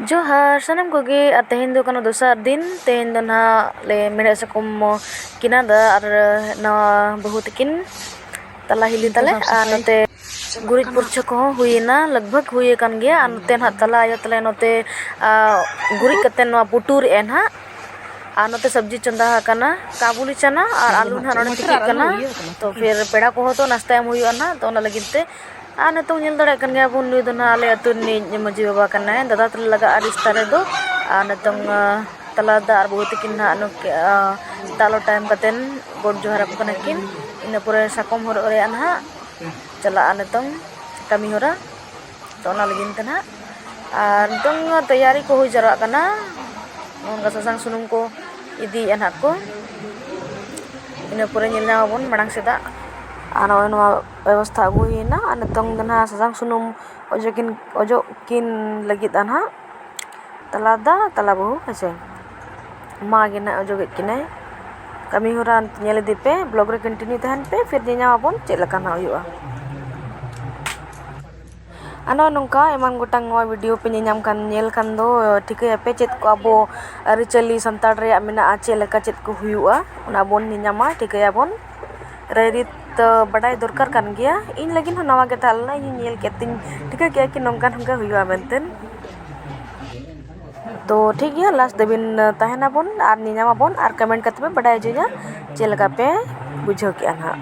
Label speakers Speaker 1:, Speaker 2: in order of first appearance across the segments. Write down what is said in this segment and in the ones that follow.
Speaker 1: ᱡᱚᱦᱟᱨ ᱥᱟᱱᱟᱢ ᱠᱚᱜᱮ ᱟᱨ ᱛᱮᱦᱮᱧ ᱫᱚ ᱠᱟᱱᱟ ᱫᱚᱥᱟᱨ ᱫᱤᱱ ᱛᱮᱦᱮᱧ ᱫᱚ ᱱᱟᱦᱟᱜ ᱞᱮ ᱢᱮᱲᱦᱮᱫ ᱥᱟᱠᱚᱢ ᱠᱤᱱᱟ ᱫᱟ ᱟᱨ ᱱᱟᱣᱟ ᱵᱟᱹᱦᱩ ᱛᱟᱹᱠᱤᱱ ᱛᱟᱞᱟ ᱦᱤᱞᱤ ᱛᱟᱞᱮ ᱟᱨ ᱱᱚᱛᱮ ᱜᱩᱨᱤᱡ ᱯᱩᱨᱪᱷᱟᱹ ᱠᱚᱦᱚᱸ ᱦᱩᱭᱮᱱᱟ ᱞᱟᱜᱽ ᱵᱷᱟᱜᱽ ᱦᱩᱭ ᱟᱠᱟᱱ ᱜᱮᱭᱟ ᱟᱨ ᱱᱚᱛᱮ ᱱᱟᱦᱟᱜ ᱛᱟᱞᱟ ᱟᱭᱳ ᱛᱟᱞᱮ ᱱᱚᱛᱮ ᱜᱩᱨᱤᱡ ᱠᱟᱛᱮᱫ ᱱᱚᱣᱟ ᱯᱩᱴᱩᱨᱮᱫᱼᱟᱭ ᱱᱟᱦᱟᱜ ᱟᱨ ᱱᱚᱛᱮ ᱥᱚᱵᱽᱡᱤ ᱪᱚᱸᱫᱟ ᱟᱠᱟᱱᱟ ᱠᱟᱵᱩᱞᱤ ᱪᱟᱱᱟ ᱟᱨ ᱟᱹᱞᱩ ᱱᱟᱦᱟᱜ ᱱᱚᱰᱮ ᱛᱤᱠᱤᱜ ᱠᱟᱱᱟ ᱛᱚ ᱯᱷᱤᱨ ᱯᱮᱲᱟ ᱠᱚᱦᱚᱸ ᱛᱚ ᱱᱟᱥᱛᱟ ᱮᱢ ᱦᱩᱭᱩᱜᱼᱟ ᱱᱟᱦᱟᱜ ᱛᱚ ᱚᱱᱟ ᱞᱟᱹᱜᱤᱫ ᱛᱮ ᱟᱨ ᱱᱤᱛᱚᱝ ᱧᱮᱞ ᱫᱟᱲᱮᱭᱟᱜ ᱠᱟᱱ ᱜᱮᱭᱟ ᱵᱚᱱ ᱱᱩᱭ ᱫᱚ ᱱᱟᱦᱟᱜ ᱟᱞᱮ ᱟᱹᱛᱩ ᱨᱤᱱᱤᱡ ᱢᱟᱺᱡᱷᱤ ᱵᱟᱵᱟ ᱠᱟᱱᱟᱭ ᱫᱟᱫᱟ ᱛᱟᱞᱮ ᱞᱟᱜᱟᱜᱼᱟ ᱨᱤᱥᱛᱟ ᱨᱮᱫᱚ ᱟᱨ ᱱᱤᱛᱚᱝ ᱛᱟᱞᱟ ᱫᱟᱫᱟ ᱟᱨ ᱵᱟᱹᱦᱩ ᱛᱟᱹᱠᱤᱱ ᱱᱟᱦᱟᱜ ᱱᱩᱠᱤᱱ ᱫᱟᱜ ᱞᱚᱴᱟ ᱮᱢ ᱠᱟᱛᱮᱫ ᱜᱚᱰ ᱡᱚᱦᱟᱨ ᱟᱠᱚ ᱠᱟᱱᱟ ᱠᱤᱱ ᱤᱱᱟᱹ ᱯᱚᱨᱮ ᱥᱟᱠᱚᱢ ᱦᱚᱨᱚᱜ ᱨᱮᱭᱟᱜ ᱱᱟᱦᱟᱜ ᱪᱟᱞᱟᱜᱼᱟ ᱱᱤᱛᱚᱝ ᱠᱟᱹᱢᱤ ᱦᱚᱨᱟ ᱛᱚ ᱚᱱᱟ ᱞᱟᱹᱜᱤᱫ ᱛᱮ ᱱᱟᱦᱟᱜ ᱟᱨ ᱱᱤᱛᱚᱝ ᱛᱮᱭᱟᱨᱤ ᱠᱚ ᱦᱩᱭ ᱡᱟᱣᱨᱟᱜ ᱠᱟᱱᱟ ᱚᱱᱠᱟ ᱥᱟᱥᱟᱝ ᱥᱩᱱᱩᱢ ᱠᱚ ᱤᱫᱤᱭᱮᱫᱼᱟ ᱱᱟᱦᱟᱜ ᱠᱚ ᱤᱱᱟᱹ ᱯᱚᱨᱮ ᱧᱮᱞ ᱧᱟᱢ ᱟᱵᱚᱱ ᱢᱟᱲᱟᱝ ᱥᱮᱫᱟᱜ ᱟᱨ ᱱᱚᱜᱼᱚᱸᱭ ᱱᱚᱣᱟ ᱵᱮᱵᱚᱥᱛᱷᱟ ᱟᱹᱜᱩ ᱦᱩᱭᱱᱟ ᱟᱨ ᱱᱤᱛᱚᱝ ᱫᱚ ᱦᱟᱸᱜ ᱥᱟᱥᱟᱝ ᱥᱩᱱᱩᱢ ᱚᱡᱚᱜ ᱠᱤᱱ ᱚᱡᱚᱜ ᱠᱤᱱ ᱞᱟᱹᱜᱤᱫᱼᱟ ᱦᱟᱸᱜ ᱛᱟᱞᱟ ᱫᱟ ᱛᱟᱞᱟ ᱵᱟᱹᱦᱩ ᱦᱮᱸ ᱥᱮ ᱢᱟ ᱜᱮ ᱦᱟᱸᱜ ᱚᱡᱚᱜᱮᱫ ᱠᱤᱱᱟᱭ ᱠᱟᱹᱢᱤᱦᱚᱨᱟ ᱧᱮᱞ ᱤᱫᱤ ᱯᱮ ᱵᱞᱚᱜᱽ ᱨᱮ ᱠᱚᱱᱴᱤᱱᱤᱭᱩ ᱛᱟᱦᱮᱱ ᱯᱮ ᱯᱷᱤᱨ ᱧᱮᱞᱧᱟᱢ ᱟᱵᱚᱱ ᱪᱮᱫ ᱞᱮᱠᱟ ᱦᱟᱸᱜ ᱦᱩᱭᱩᱜᱼᱟ ᱟᱨ ᱱᱚᱜᱼᱚᱭ ᱱᱚᱝᱠᱟ ᱮᱢᱟᱱ ᱜᱚᱴᱟᱝ ᱱᱚᱣᱟ ᱵᱷᱤᱰᱤᱭᱳ ᱯᱮ ᱧᱮᱞ ᱧᱟᱢ ᱠᱷᱟᱱ ᱧᱮᱞ ᱠᱷᱟᱱ ᱫᱚ ᱴᱷᱤᱠᱟᱹᱭᱟᱯᱮ ᱪᱮᱫ ᱠᱚ ᱟᱵᱚ ᱟᱹᱨᱤᱪᱟᱹᱞᱤ ᱥᱟᱱᱛᱟᱲ ᱨᱮᱭᱟᱜ ᱢᱮᱱᱟᱜᱼᱟ ᱪᱮᱫ ᱞᱮᱠᱟ ᱪᱮᱫ ᱠᱚ ᱦᱩᱭᱩᱜᱼᱟ ᱚᱱᱟ ᱵᱚᱱ ᱧᱮᱞ ᱧᱟᱢᱟ ᱴᱷᱤᱠᱟᱹᱭᱟᱵᱚᱱ ᱨᱟᱭᱨᱤᱛ ᱫᱚ ᱵᱟᱰᱟᱭ ᱫᱚᱨᱠᱟᱨ ᱠᱟᱱ ᱜᱮᱭᱟ ᱤᱧ ᱞᱟᱹᱜᱤᱫ ᱦᱚᱸ ᱱᱟᱣᱟ ᱜᱮ ᱛᱟᱦᱮᱸ ᱞᱮᱱᱟ ᱤᱧ ᱧᱮᱞ ᱠᱮᱫ ᱛᱤᱧ ᱴᱷᱤᱠᱟᱹ ᱠᱮᱫᱼᱟ ᱠᱤ ᱱᱚᱝᱠᱟ ᱱᱚᱝᱠᱟ ᱦᱩᱭᱩᱜᱼᱟ ᱢᱮᱱᱛᱮ ᱛᱳ ᱴᱷᱤᱠ ᱜᱮᱭᱟ ᱞᱟᱥᱴ ᱫᱷᱟᱹᱵᱤᱡ ᱛᱟᱦᱮᱱ ᱟᱵᱚᱱ ᱟᱨ ᱧᱮᱧᱟᱢ ᱟᱵᱚᱱ ᱟᱨ ᱠᱚᱢᱮᱱᱴ ᱠᱟᱛᱮᱫ ᱯᱮ ᱵᱟᱰᱟᱭ ᱦᱚᱪᱚᱧᱟ ᱪᱮᱫ ᱞᱮᱠᱟ ᱯᱮ ᱵᱩᱡᱷᱟᱹᱣ ᱠᱮᱫᱼᱟ ᱦᱟᱸᱜ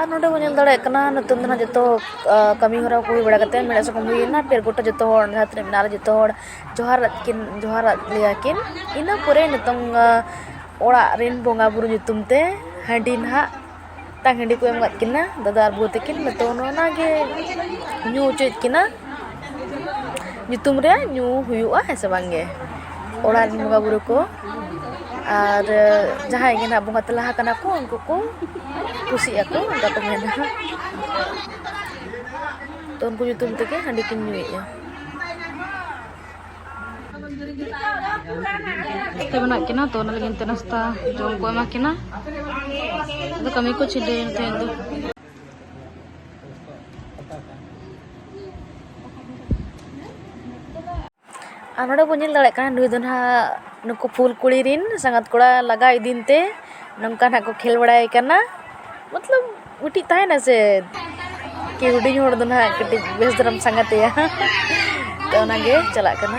Speaker 1: ᱟᱨ ᱱᱚᱰᱮ ᱵᱚᱱ ᱧᱮᱞ ᱫᱟᱲᱮᱭᱟᱜ ᱠᱟᱱᱟ ᱱᱤᱛᱚᱝ ᱫᱚ ᱦᱟᱸᱜ ᱡᱚᱛᱚ ᱠᱟᱹᱢᱤ ᱦᱚᱨᱟ ᱠᱚ ᱦᱩᱭ ᱵᱟᱲᱟ ᱠᱟᱛᱮᱫ ᱢᱮᱲᱦᱮᱫ ᱥᱟᱠᱚᱢ ᱦᱩᱭᱮᱱᱟ ᱯᱷᱤᱨ ᱜᱚᱴᱟ ᱡᱚᱛᱚ ᱦᱚᱲ ᱡᱟᱦᱟᱸ ᱛᱤᱱᱟᱹᱜ ᱢᱮᱱᱟᱜ ᱞᱮ ᱡᱚᱛᱚ ᱦᱚᱲ ᱡᱚᱦᱟᱨᱟᱫ ᱠᱤᱱ ᱡᱚᱦᱟᱨᱟᱫ ᱞᱮᱭᱟ ᱠᱤᱱ ᱤᱱᱟᱹ ᱯᱚᱨᱮ ᱱᱤᱛᱚᱝ ᱚᱲᱟᱜ ᱨᱮᱱ ᱵᱚᱸᱜᱟᱼᱵᱩᱨᱩ ᱧᱩᱛᱩᱢ ᱛᱮ ᱦᱟᱺᱰᱤ ᱱᱟᱦᱟᱜ ᱢᱤᱫᱴᱟᱝ ᱦᱟᱺᱰᱤ ᱠᱚ ᱮᱢ ᱠᱟᱜ ᱠᱤᱱᱟ ᱫᱟᱫᱟ ᱟᱨ ᱵᱟᱹᱦᱩ ᱛᱟᱹᱠᱤᱱ ᱱᱤᱛᱚᱝ ᱚᱱᱟᱜᱮ ᱧᱩ ᱦᱚᱪᱚᱭᱮᱫ ᱠᱤᱱᱟ ᱧᱩᱛᱩᱢ ᱨᱮ ᱧᱩ ᱦᱩᱭᱩᱜᱼᱟ ᱦᱮᱸ ᱥᱮ ᱵᱟᱝ ᱜᱮ ᱚᱲᱟᱜ ᱨᱮᱱ ᱵᱚᱸᱜᱟ ᱵᱩᱨᱩ ᱠᱚ ᱟᱨ ᱡᱟᱦᱟᱸᱭ ᱜᱮ ᱱᱟᱦᱟᱜ ᱵᱚᱸᱜᱟ ᱛᱟᱞᱟ ᱟᱠᱟᱱᱟ ᱠᱚ ᱩᱱᱠᱩ ᱠᱚ ᱠᱩᱥᱤᱜ ᱟᱠᱚ ᱚᱱᱠᱟ ᱠᱚ ᱢᱮᱱᱟ ᱛᱚ ᱩᱱᱠᱩ ᱧᱩᱛᱩᱢ ᱛᱮᱜᱮ ᱦᱟᱺᱰᱤ ᱠᱤᱱ ᱧᱩᱭᱮᱫᱼᱟ ᱛᱮ ᱢᱮᱱᱟᱜ ᱠᱤᱱᱟ ᱛᱚ ᱚᱱᱟ ᱞᱟᱹᱜᱤᱫ ᱛᱮ ᱱᱟᱥᱛᱟ ᱡᱚᱢ ᱠᱚ ᱮᱢᱟ ᱠᱤᱱᱟ ᱟᱫᱚ ᱠᱟᱹᱢᱤ ᱠᱚ ᱪᱷᱤᱰᱟᱹᱭᱮᱱ ᱛᱮ ᱫᱚ ᱟᱨ ᱱᱚᱰᱮ ᱵᱚᱱ ᱧᱮᱞ ᱫᱟᱲᱮᱭᱟᱜ ᱠᱟᱱᱟ ᱱᱩᱭ ᱫᱚ ᱱᱟᱦᱟᱜ ᱱᱩᱠᱩ ᱯᱷᱩᱞ ᱠᱩᱲᱤ ᱨᱤᱱ ᱥᱟᱸᱜᱟᱛ ᱠᱚᱲᱟ ᱞᱟᱜᱟ ᱤᱫᱤᱭᱮ ᱛᱮ ᱱᱚᱝᱠᱟ ᱱᱟᱦᱟᱜ ᱠᱚ ᱠᱷᱮᱞ ᱵᱟᱲᱟᱭ ᱠᱟᱱᱟ ᱢᱚᱛᱞᱚᱵ ᱢᱤᱫᱴᱤᱡ ᱛᱟᱦᱮᱱᱟ ᱥᱮ ᱠᱤ ᱦᱩᱰᱤᱧ ᱦᱚᱲ ᱫᱚ ᱱᱟᱦᱟᱜ ᱠᱟᱹᱴᱤᱡ ᱵᱮᱥ ᱫᱷᱟᱨᱟᱢ ᱥᱟᱸᱜᱟᱛᱮᱭᱟ ᱛᱚ ᱚᱱᱟᱜᱮ ᱪᱟᱞᱟᱜ ᱠᱟᱱᱟ